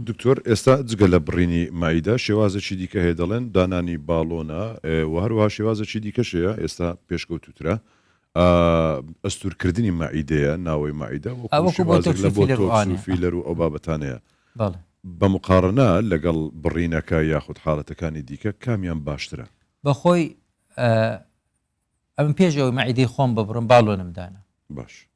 دکتۆر ئێستا جگە لە بڕینی مائیدە شێوازێکی دیکە هەیە دەڵێن دانانی باڵۆنە و هەروەها شێوازێکی دیکەش هەیە ئێستا پێشکەوتووترە ئەستورکردنی مائیدەیە ناوەی مائیدە وەکو شێوازێک لە بۆ تۆکس و فیلەر و ئەو بابەتانەیە بە مقاڕنە لەگەڵ بڕینەکە یاخود حاڵەتەکانی دیکە کامیان باشترە بەخۆی ئەم پێش ئەوەی مائیدەی خۆم ببڕم باڵۆنم دانا باش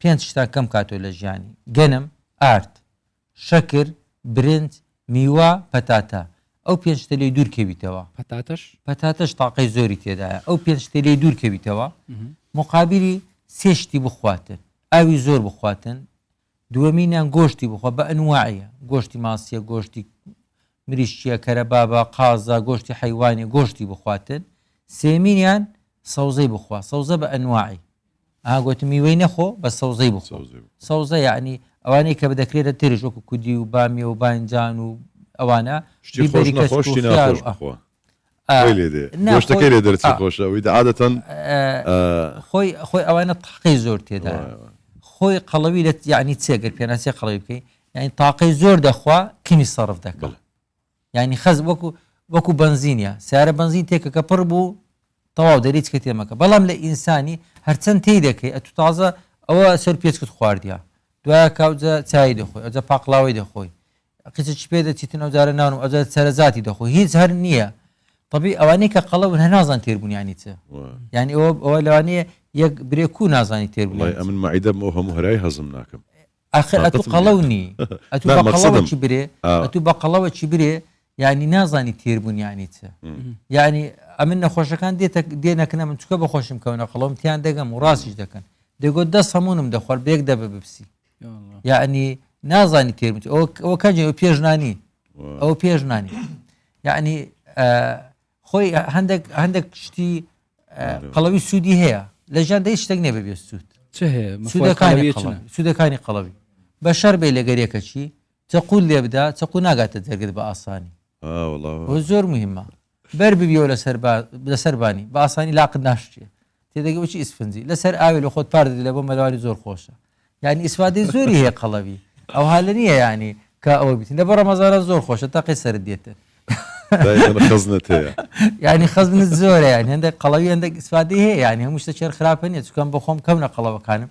پێنج شتان کەم کاتەوە لە ژیانی، گەنم، ئارد، شەکر، برنج، میوە، پەتاتە، ئەو پێنج شتە لێی دوور کەویتەوە، پەتاتەش؟ پەتاتەش تاقەی زۆری تێدایە، ئەو پێنج شتە لێی دوور کەویتەوە، مقابلی سێ شتی بخواتن، ئاوی زۆر بخواتن، دووەمینیان گۆشتی بخوا بە ئەنواعی، گۆشتی ماسیە، گۆشتی مریشکیە کەرە بابە قازە گۆشتی حەیوانی گۆشتی بخواتن سێمینیان سەوزەی بخوا سەوزە بە ئەنواعی ئا گۆتم میوەی نەخۆ بە سەوزەی بخۆ سەوزە یعنی ئەوانەی کە بدەکرێتە ترش وەکو کودی و بامیە و بانجان و ئەوانە شتی بەری خۆش نەخۆشی ناخۆش بخۆ لێدێشتەکەی لێ دەرچ خۆشەوەی عادەتەن خۆی خۆی ئەوانە تاقی زۆر تێدا خۆی قەڵەوی لە یعنی چێگر پێناسێ قەڵەوی بکەی یعنی تاقی زۆر دەخوا کمی سەرف دەکەڵ یعنی خەز وەکو وەکو بنزینە سیارە بنزین تێکە کە پڕ بوو تەواو دەریت کە تێمەکە بەڵام لە ئینسانی هەرچەند تی دەکەی ئەتو تازە ئەوە سەر پێچکت خواردە دوایە کاوجە چای دەخۆی ئەجە پاقلاوی دەخۆی کچە چی پێ دەچیتن ئەو جارە نانم ئەو جارە سەرەجاتی دەخۆ هیچ هەر نییە طبی ئەوانەی کە قەڵە بن هەر نازان تێربوون ینی چ وا. یعنی ئەوە ئەوە لەوانەیە یەک برێ کو نازانی تێربوون وڵای یانی چ. ئەمن مەعیدەم ئەو هەموو هەرای هەزم ناکەم ئاخر ئەتوو تاقەتم قەڵەو نییە. نی ئەتوو نا، بە قەڵەوە مەقسەدم، چی برێ ئا. ئەتوو بە قەڵەوە چی برێ یعنی نازانی تێربوون یانی چ م. یعنی ئەمن نەخۆشەکان دێتە دێنە کنە من چونکە بە خۆشم کەونە قەڵەوم تیان دەگەم و ڕاستیش دەکەن دەگۆ دەست هەموونم دەخۆر بە یەک دەبە بپسی یعنی نازانی تێبت ئەو کەجێ ئەو پێشنانی ئەو پێشنانی یعنی خۆی هەندێک هەندێک شتی قەڵەوی سوودی هەیە لە ژیان دەی شتێک نێ بەبێ سوود سوودەکانی قەڵەوی بە شەر بێ لەگەرێکە چی چەقول لێ بدا چەقو ناگاتە دەرگت بە ئاسانی زۆر مهمە بەر ببیەوە لەسەر با لەسەر بانی بە ئاسانی لاقت ناشتێ تێدەگە بچی ئیسفنجی لەسەر ئاوێ لە خۆت پار دەدی لە بۆ مەلەوانی زۆر خۆشە یعنی ئیسفادەی زۆری هەیە قەڵەوی ئەو هەالە نییە ینی کە ئەوە بتین لە بە ڕەمەزارە زۆر خۆشە تاقی سرد دێتن خزنت هەیە ینی خزنت زۆرە یان هەندێک قەڵەوی هەندێک ئیسفادەی هەیە ینی هەموو شتە چێر خراپە نیە چکەم بە خۆم کەم نە قەڵەوەکانم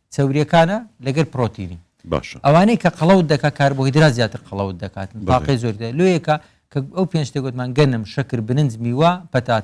چەوریەکانە لەگەر پرۆتینی باشە ئەوانەی کە قەڵەوت دەکات کاربۆهیدرات زیاتر قەڵەوت دەکاتن بەڵێ. تاقی زۆر لۆیەکە کە ئەو پێنج شتێک گوتمان گەنم شەکر برنج میوە پەتاتە